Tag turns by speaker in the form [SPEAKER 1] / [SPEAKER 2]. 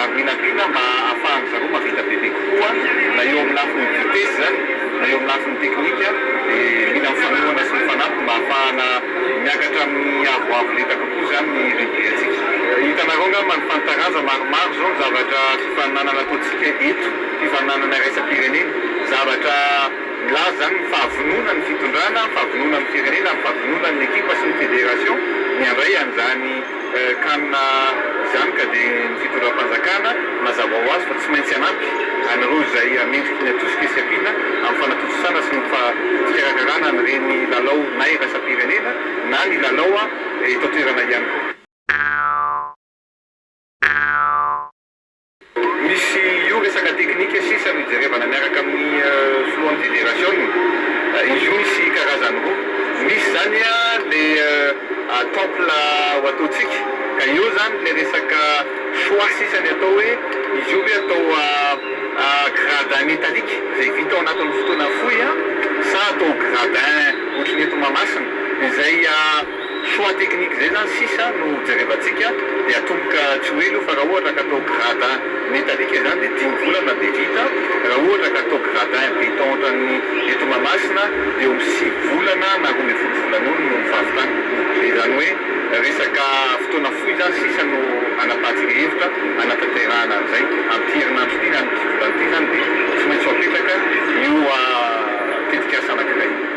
[SPEAKER 1] ary mihinakina mba hahafahan-dry zareo mahavita bebe kokoa na eo amin'ny lafiny vitesse izany na eo amin'ny lafiny teknika dia mila ny fanohana sy ny fanampy mba hahafahana miakatra amin'ny avoavo lenta kokoa izany ny rugby-ntsika. Hitanareo angamba ny fanitaranja maromaro izao ny zavatra fifaninanana ataontsika eto, fifaninanana iraisam-pirenena, zavatra milaza izany ny fahavononan'ny fitondrana, ny fahavononan'ny firenena, ny fahavononan'ny ekipa sy ny federation ny handray an'izany. Ka na izany ka dia ny fitondram-panjakana mazava ho azy fa tsy maintsy hanampy an'ireo izay hamendriky ny atosika sy ampiana amin'ny fanatontosana sy ny fikarakarana an'ireny lalao na iraisam-pirenena na ny lalao eto an-toerana ihany koa. Misy io resaka teknika sisa no jerevana miaraka amin'ny filohan'ny federasiona. Izy io misy karazany roa, misy izany ilay temple ho ataontsika ka eo izany ilay resaka choix sisa ny atao hoe izy io ve atao gradin metallique izay vita ao anatin'ny fotoana fohy sa atao gradin ohatry ny eto Mahamasina izay Choix technique zay zany sisa no jerevantsika de atomboka tsy ho ela io fa raha ohatra ka atao gradin metallique izany de dimy volana de vita, raha ohatra ka atao gradin beton ohatran'ny eto Mahamasina de eo amin'ny sivy volana na roa ambin'ny folo volana eo no fahavitana. De izany hoe resaka fotoana fohy zany sisa no anapahantsika hevitra hanatanterahana an'izay, amin'ity herinandro ity na amin'ity volana ity zany de tsy maintsy ho apetraka io tetikasa anankiray io.